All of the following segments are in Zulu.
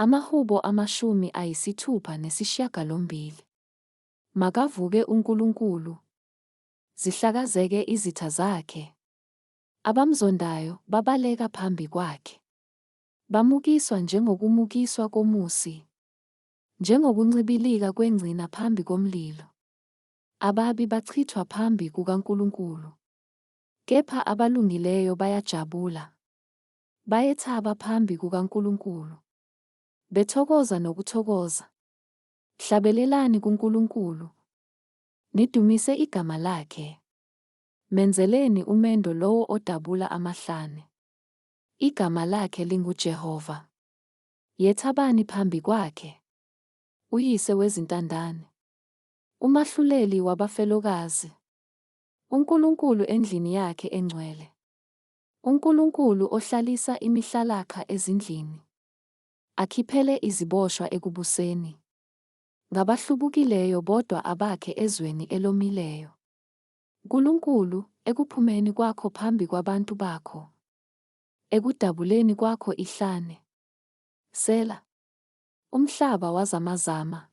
Amahubo amashumi ayisithupha nesishiyagalombili. Makavuke uNkulunkulu, zihlakazeke izitha zakhe, abamzondayo babaleka phambi kwakhe. Bamukiswa njengokumukiswa komusi, njengokuncibilika kwengcina phambi komlilo. Ababi bachithwa phambi kukaNkulunkulu, kepha abalungileyo bayajabula. Bayethaba phambi kukaNkulunkulu. Bethokoza nokuthokoza. Hlabelelani kuNkulunkulu. Nidumise igama lakhe. Menzeleni umendo lowo odabula amahlane. Igama lakhe linguJehova. Yethabani phambi kwakhe. UYise wezintandane. UMahluleli wabafelokazi. UNkulunkulu endlini yakhe engcwele. UNkulunkulu ohlalisa imihlalakha ezindlini, akhiphele iziboshwa ekubuseni, ngabahlubukileyo bodwa abakhe ezweni elomileyo. Nkulunkulu, ekuphumeni kwakho phambi kwabantu bakho, ekudabuleni kwakho ihlane. Sela. Umhlaba wazamazama.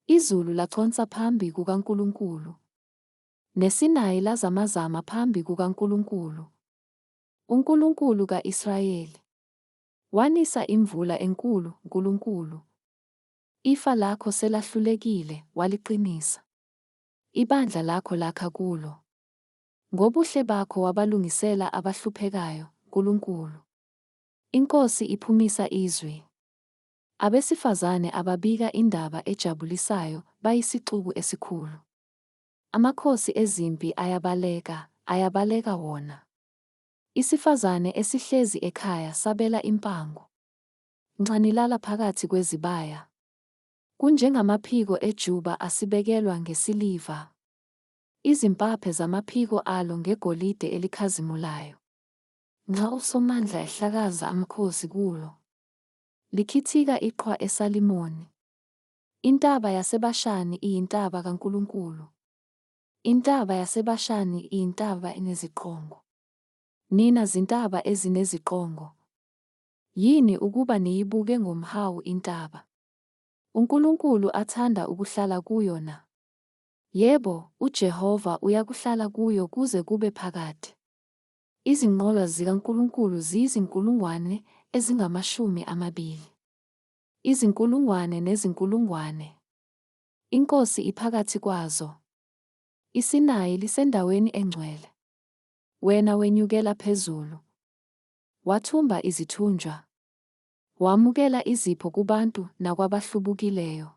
Izulu laconsa phambi kukaNkulunkulu. NeSinayi lazamazama phambi kukaNkulunkulu, uNkulunkulu ka-Israyeli. Wanisa imvula enkulu, Nkulunkulu. Ifa lakho selahlulekile, waliqinisa. Ibandla lakho lakha kulo. Ngobuhle bakho wabalungisela abahluphekayo, Nkulunkulu. INkosi iphumisa izwi. Abesifazane ababika indaba ejabulisayo bayisixuku esikhulu. Amakhosi ezimpi ayabaleka, ayabaleka wona. Isifazane esihlezi ekhaya sabela impango. Nxa nilala phakathi kwezibaya. Kunjengamaphiko ejuba asibekelwa ngesiliva. Izimpaphe zamaphiko alo ngegolide elikhazimulayo. Nxa uSomandla ehlakaza amakhosi kulo. Likhithika iqhwa eSalimoni. Intaba yaseBashani iyintaba kaNkulunkulu. Intaba yaseBashani iyintaba eneziqongo. Nina zintaba ezineziqongo, yini ukuba niyibuke ngomhawu intaba uNkulunkulu athanda ukuhlala kuyo na? Yebo, uJehova uyakuhlala kuyo kuze kube phakade. Izinqola zikaNkulunkulu ziyizinkulungwane ezingamashumi amabili. Izinkulungwane nezinkulungwane. INkosi iphakathi kwazo. ISinayi lisendaweni engcwele. Wena wenyukela phezulu. Wathumba izithunjwa. Wamukela izipho kubantu nakwabahlubukileyo.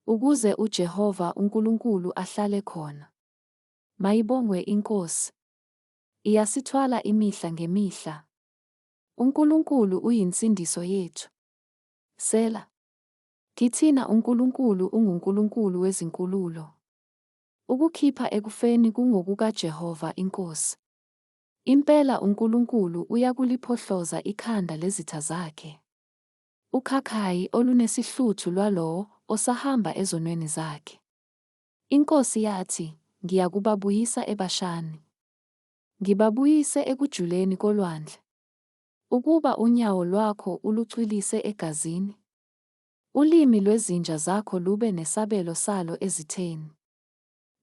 Ukuze uJehova uNkulunkulu ahlale khona. Mayibongwe iNkosi. Iyasithwala imihla ngemihla. UNkulunkulu uyinsindiso yethu. Sela. Kithina uNkulunkulu unguNkulunkulu wezinkululo. Ukukhipha ekufeni kungokukaJehova iNkosi. Impela uNkulunkulu uyakuliphohloza ikhanda lezitha zakhe. Ukhakhayi olunesihluthu lwalowo osahamba ezonweni zakhe. INkosi yathi, Ngiyakubabuyisa eBashani. Ngibabuyise ekujuleni kolwandle. Ukuba unyawo lwakho ulucwilise egazini, ulimi lwezinja zakho lube nesabelo salo ezitheni.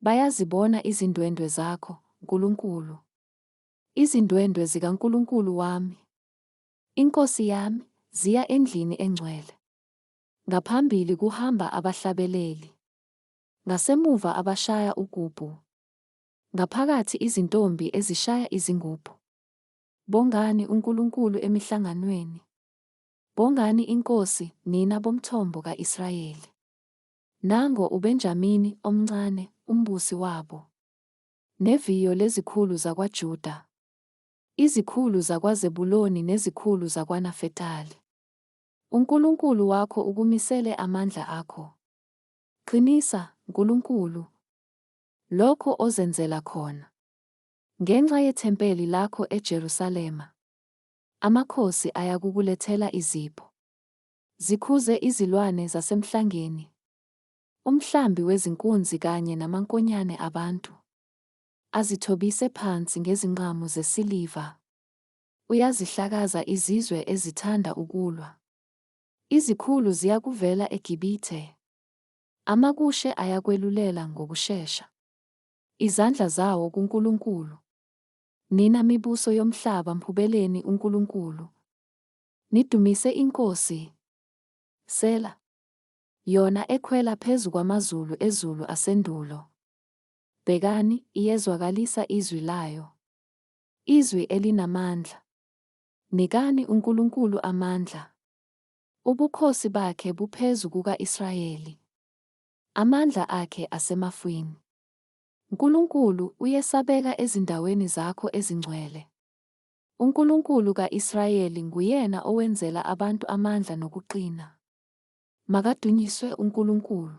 Bayazibona izindwendwe zakho, Nkulunkulu, izindwendwe zikaNkulunkulu wami, iNkosi yami, ziya endlini engcwele. Ngaphambili kuhamba abahlabeleli, ngasemuva abashaya ugubhu. Ngaphakathi izintombi ezishaya izingubhu. Bongani uNkulunkulu emihlanganweni. Bongani iNkosi, nina bomthombo ka-Israyeli. Nango uBenjamini omncane, umbusi wabo. Neviyo lezikhulu zakwaJuda. Izikhulu zakwaZebuloni nezikhulu zakwaNafetali. UNkulunkulu wakho ukumisele amandla akho. Qinisa, Nkulunkulu. Lokho ozenzela khona. Ngenxa yethempeli lakho eJerusalema, amakhosi ayakukulethela izipho. Zikhuze izilwane zasemhlangeni, umhlambi wezinkunzi kanye namankonyane abantu, azithobise phansi ngezinqamu zesiliva. Uyazihlakaza izizwe ezithanda ukulwa. Izikhulu ziyakuvela eGibithe, Amakushe ayakwelulela ngokushesha. Izandla zawo kuNkulunkulu. Nina mibuso yomhlaba mhubeleni uNkulunkulu. Nidumise iNkosi. Sela. Yona ekhwela phezu kwamazulu ezulu asendulo. Bhekani, iyezwakalisa izwi layo. Izwi elinamandla. Nikani uNkulunkulu amandla. Ubukhosi bakhe buphezu kuka-Israyeli, amandla akhe asemafwini. Nkulunkulu, uyesabeka ezindaweni zakho ezingcwele. UNkulunkulu ka-Israyeli nguyena owenzela abantu amandla nokuqina. Makadunyiswe uNkulunkulu!